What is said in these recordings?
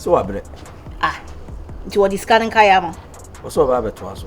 sɛ wabrɛ ah, nti wɔde sika no nkaeɛ ama ɔsɛ ɔbaa bɛtoa so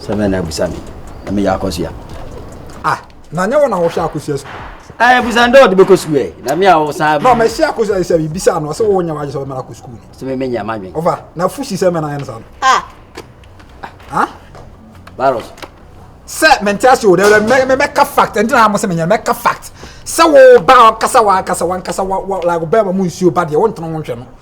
Sɛ bɛn na abusa me na meyɛ akɔsua. Ah, na nyɛ wɔ na wɔhwɛ akɔsua sukuu. Ah, abusa ndɛ ɔde bɛkɔ sukuu ɛ, na me a wɔsan. Na ɔmɛ hyɛ akɔsua sɛ bibisa no ɔsɛ wɔwɔ nyɛ wagye sɛ ɔmɛ akɔ sukuu ni. Sɛ mɛmɛ nyɛ madwen. Ɔfa, na fusi sɛ mɛ na ayɛ no saa no. Ah. Ah. Baros. Sɛ mɛnte ase o, dɛ mɛ mɛ mɛka fact, ɛnti na mo sɛ mɛ nyɛ mɛka fact. Sɛ wo ba ɔkasa wa ankasa wa ankasa wa wa like ɔbɛn ma mo nsuo ba deɛ wɔntena wɔn hwɛ no.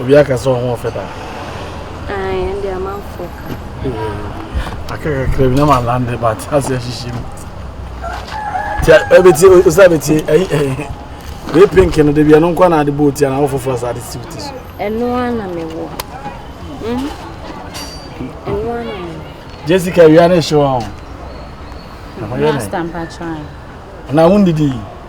Obi aka sɛ ɔho ɔfɛ daa. Ayi, ɛnde amanfoɔ ka. Aka kakra bi na ma lande but ase ahyehye mu. Ti ɛbɛti eh, osa bɛti ɛyi eh, ɛyi. Eh, Wei pink no de bi ɛno nkwa na ade bɔ oti ana ɔfoforɔ sa ade siw ti so. Ɛno ana me wɔ. Hmm? Ɛno ana me wɔ. Jessica wia ne hyɛ wɔn. Master mpakyɛn. Na wɔn didi.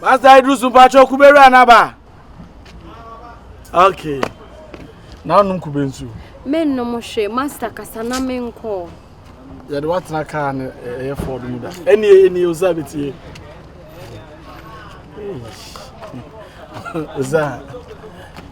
Pastor Idris Mpacho kube wura naba. Okay. Na nom kube nsu. Me nom hwe master kasa na me nko. Ya de watena car ne eh, eh Ford mu da. Eni eni oza betie. Oza.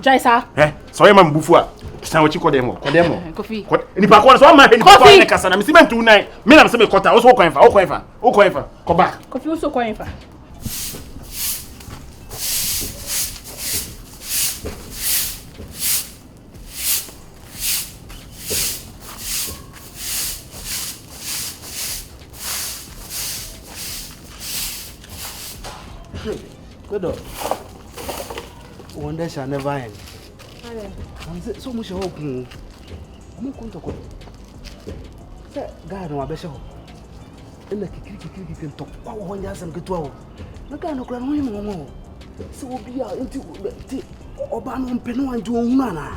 Gyae saa. Ɛ sɛ ɔyɛ ma me bufu a san wɔkyi kɔ dɛm hɔ kɔ dɛm hɔ. Kofi. Nipa kɔ no sɛ ɔma hwɛ nipa kɔ ne kasa na mesi ma ntu nan me nam sɛ mekɔta wo so wokwan fa wokwan fa wokwan fa kɔ ba. Kofi wo so kwan fa. Good. Wɔn dɛ shall never end. Wɔn sɛ sɛ wɔn hyɛ hɔ kun o, wɔn ko ntɔkwa. Sɛ gaa no abɛhyɛ hɔ, ɛna kikiri kikiri kikiri ntɔkwa wɔ hɔ nyɛ asɛm ketewa o. Na gaa no kura no ho yɛ wɔn o. Sɛ obi a nti ti ɔbaa no mpɛ no anti wɔn hunu anaa.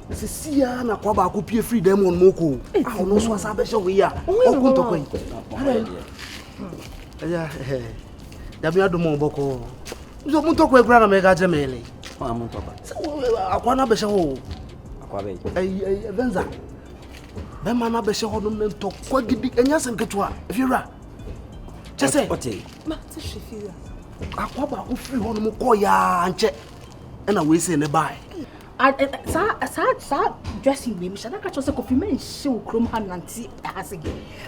Na sɛ si ya na kɔ baako pie firi dɛm wɔn mu ko. A ɔno nso asa abɛhyɛ hɔ yi a ɔko ntɔkwa yi. Ɛyà ɛɛ. nyame adom ɔ bɔkɔ nso mu ntɔkwa kura na mɛka kyerɛ mɛlɛ akwa no abɛhyɛ hɔ venza bɛma no abɛhyɛ hɔ nom ne ntɔkwa gidi ɛnyɛ sɛ nketewa fiwura kyɛ sɛ akwa baako firi hɔ nom kɔ yaa nkyɛ ɛna wei sɛ ne bae saa dressing wei mehyɛ daka kyerɛ sɛ kofi mɛnhyɛ wo kurom ha nante ha sɛ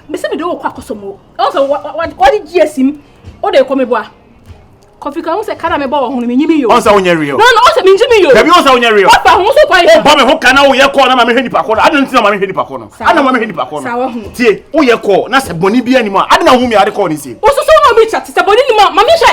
mese mede wokɔ akɔsɔm o ɔn sɛ wɔde gye asi m wode kɔ meboa kɔfi ka ho sɛ ka na mebɔ wɔ ho no menyi me yo ɔn sɛ wonyɛ real no no ɔn sɛ menyi me yo dabi ɔn sɛ wonyɛ real papa ho so kwan wobɔ me ho ka na woyɛ kɔɔ na ma mehwɛ nipa kɔ no adena nti na ma mehwɛ nipa kɔ no adena ma mehwɛ nipa kɔ no tie woyɛ kɔɔ na sɛ bɔne bi anim a adena ho mi ade kɔɔ ne sie wososo na obi kyate sɛ bɔne nim a ma mehwɛ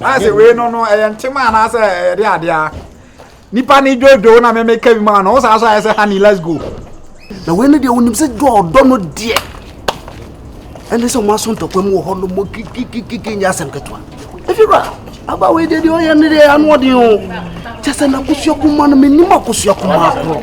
ase wei no no ɛyɛ ntoma anaasɛ ɛde adea nipa ne dwodwo na mɛmɛ ka bi mu ano ɔsan so ayɛ sɛ honey let's go. na wei no deɛ wonim sɛ dwa ɔdɔ no deɛ ɛne sɛ ɔmaso ntɔkwa mu wɔ hɔ no mɔ kikikikiki nyɛ asɛm ketewa ɛfiwura aba wei deɛ deɛ ɔyɛ ne deɛ ano ɔden o kyɛ sɛ nakosua kuma no menim akosua kuma korɔ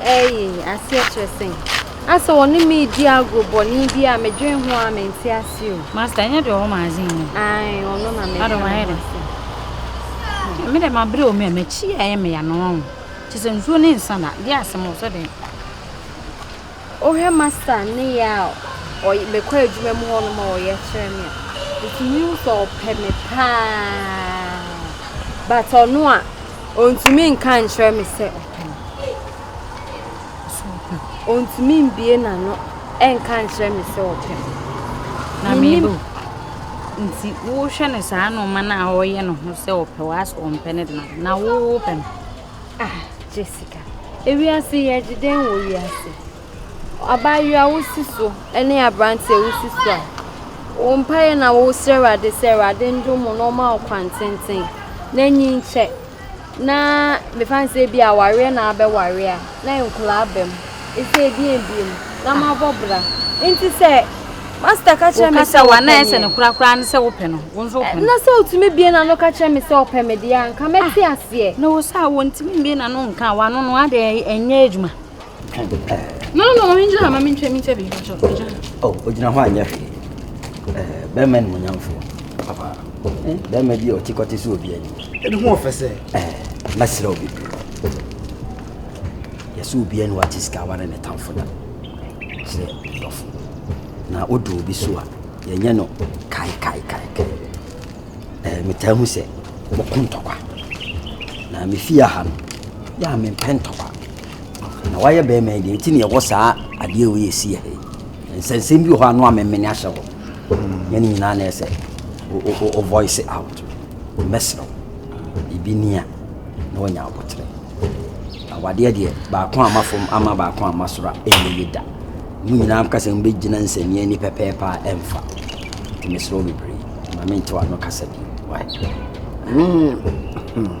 Eyi aseɛ kyerɛ sɛn? Asɛ wɔne me redi agorɔ bɔne bi a medwen ho a mente aseɛ o. Master, ɛnyɛ deɛ ɔwɔ magazine mu? Ae, ɔno na meka ho asɛm. Me dɛ mabrɛ o me a makyi yɛ ayɛ me ya no wahu kyɛ sɛ nsuo ne nsa na deɛ asɛm o sɛ dɛn. Wohwɛ master ne yɛ a mekɔ adwuma mu hɔ no ma ɔyɛ kyerɛ me a metumi hu sɛ ɔpɛ me paa but ɔno a Ɔntumi nka nkyerɛ me sɛ ɔpɛ me. Ɔntumi mbie n'ano nka nkyerɛ me sɛ ɔpɛ me. Na mebo nti wohwɛ no saa nneɛma no a ɔyɛ no ho sɛ ɔpɛ wo asɛ ɔmpɛ no dena na wowopɛ no. Ah, Jessica, ewiase yɛgye dɛn wɔ wiase? Abaayewa wo si so ne aberanteɛ wo si so a, wo mpaeɛ na wo srɛ Awurade sɛ Awurade ndom mo na ɔma ɔkwan tenten na enyi nkyɛ na mefa no sɛ ebi awareɛ na abɛware a na nkwadaa aba mu ɛsɛ ebi ebiem na mo abɔ bra nti sɛ masta ka kyerɛ me sɛ wɔpɛ me sɛ no korakora ne sɛ wopɛ no wo nso wopɛ no na sɛ otumi bie na no ka kyerɛ me sɛ ɔpɛ me deɛ anka mɛte ah, aseɛ na wo sɛ a wɔntumi mbie na no nka wano no adeɛ ɛnyɛ adwuma Twa de twa. No no no, mengyina ha ma mentwa mentwa bi mpakyɛ. Megya ha. Oh, ogyina hɔ anyɛ hwee. Eh, bɛrima animuonyamfo. Papa. Eh, bɛrima bi a ɔte kɔte so obi anim. Ɛne ho ɔfɛ sɛ. Eh, mɛsrɛ wo bebree. Yɛsɛ obi ani wate sika aware ne tamfo da. Sɛ dɔfo. Na odu obi so a, yɛnyɛ no kai kai kai kai. Eh, metaa hu sɛ wɔko ntɔkwa. Na mefi aha no, yɛ a mempɛ ntɔkwa. Na woayɛ barima yi deɛ, nti na yɛwɔ saa adeɛ wei ɛsi yɛ ha yi. Nsɛnsɛm bi wɔ hɔ a no amemene ahyɛ hɔ. Nyɛ ne nyinaa na ɛsɛ o voice out. Mɛsrɛ wo, biribi ni a na wanya aboterɛ. Awadeɛ deɛ, baako ama fam ama baako ama soro a ɛnyɛ yie da. Mo nyinaa ka sɛ mobɛgyina nsɛnneɛ ni pɛpɛɛpɛ a ɛmfa. Nti mesrɛ wo bebree, ma mentew ano kasa bi. Why? Mm.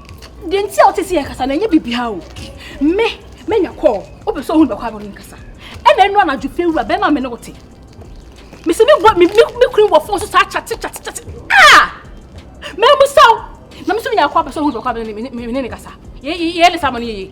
Deɛ nti a wote sɛ yɛkasa no ɛnyɛ biribiara o. Me, manya kɔɔ, wopɛ sɛ ohun bɛkɔ abɔ me nkasa. Ɛna ɛno anadwo fɛ wura bɛrima a me ne wo te. Mese me bɔ me me kunu wɔ fon so saa kyate kyate kyate. Ah! Mɛmusa o. Na me nso menya kɔɔ pɛ sɛ ohun bɛkɔ abɔ me ne ne kasa. Yɛ yɛ ne saa ma no yɛ yie.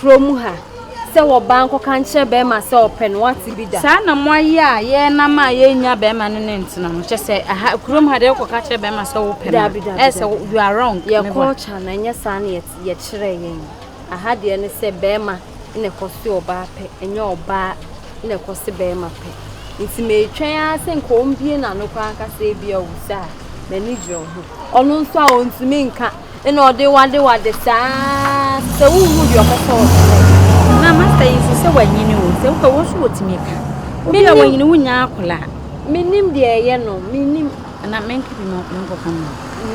Kuro mu ha sɛ wɔ baa nkɔka nkyerɛ bɛɛma sɛ ɔpɛ no wate bi da. Saa na mo ayɛ a yɛ nam a yɛ nya bɛɛma no ne ntena no kyɛ sɛ aha kuro mu ha deɛ wokɔ ka kyerɛ bɛɛma sɛ wopɛ no dabi dabi ɛsɛ you are wrong yɛ culture no ɛnyɛ saa na yɛ kyerɛ yɛn aha deɛ ne sɛ bɛɛma na ɛkɔ se ɔbaa pɛ ɛnyɛ ɔbaa na ɛkɔ se bɛɛma pɛ nti meetwɛn ara sɛ nka ɔmbie na no kɔ ankasa ebia ɔwusa a m'ani gyerɛ ho ɔno nso a ɔntumi nka Ɛna ɔde wo adewade saa sɛ wonhu deɛ ɔbɛtɔ wo so. Na masta yi nso sɛ wanyini o, sɛ wopɛ wɔn nso wɔtumi ka. Obi a wanyini wonya akola. Menim deɛ ɛyɛ no, menim. Ɛna menka bi ma menkɔka mu.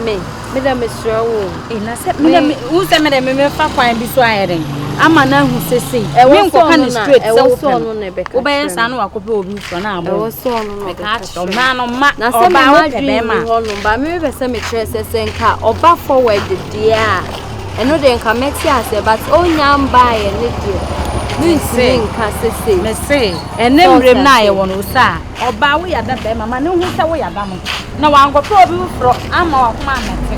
Me, medɛ mesrɛ wo. E, na sɛ, medɛ, me, wo sɛ medɛ me mefa kwan bi so ayɛ dɛn? Ama no ahu sɛ sei. Ɛwɔ sɛ ɔno na, ɛwɔ sɛ ɔno na ɛbɛka kyerɛ me. Wobɛyɛ saa na wakɔpɛ obi Sɔ no abɔ. Ɛwɔ sɛ ɔno na ɔbɛka kyerɛ me. Ɔbaa no ma ɔbaa wo pɛ bɛrima. Ba me bɛ sɛ mekyerɛ sɛ sɛ nka ɔba forward deɛ a ɛno deɛ nka mɛte aseɛ but ɔnya mbaeɛ ne deɛ mentumi nka sese. Mese ɛne mmerɛm no a yɛwɔ no sɛ a ɔbaa wo yada bɛrima ma ne ho sɛ wo yada no na wankɔpɛ obi foforɔ ama wakoma amɛte.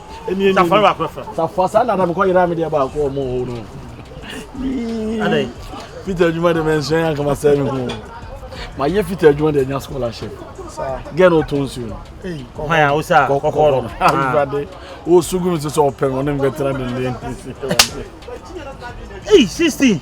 ɛni ɛni safari baako fɛ safari saa nana mi kɔ yɛrɛ mi deɛ baako wɔ mu hɔ no yii peter adwuma de mɛ nsɛn yɛn kama sɛ mi ho ma yɛ peter adwuma de ɛnya scholarship gɛn o to nsuo no kɔkɔ ya o sa kɔkɔ no awurade o sugu mi sɛ ɔpɛ mi ɔne mi bɛ tena ne ne ne si ɛwurade. Hey, sixteen.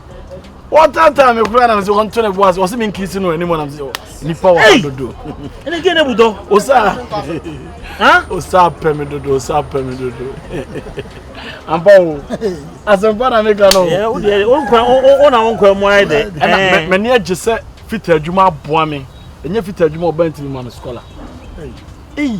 wɔtantan me koraa na me sɛ wɔnto ne bo ase wɔse menkisi no anim nam sɛ nnipa wɔ ha dodo ɛne gɛ ne budɔ osaa osaa pɛ me dodo osaa pɛ me dodo ampa o asɛmpa na meka no wona wonkwa mu ayɛ dɛ ɛna m'ani agye sɛ fita adwuma aboa me ɛnyɛ fita adwuma ɔba ntimi ma me skola ei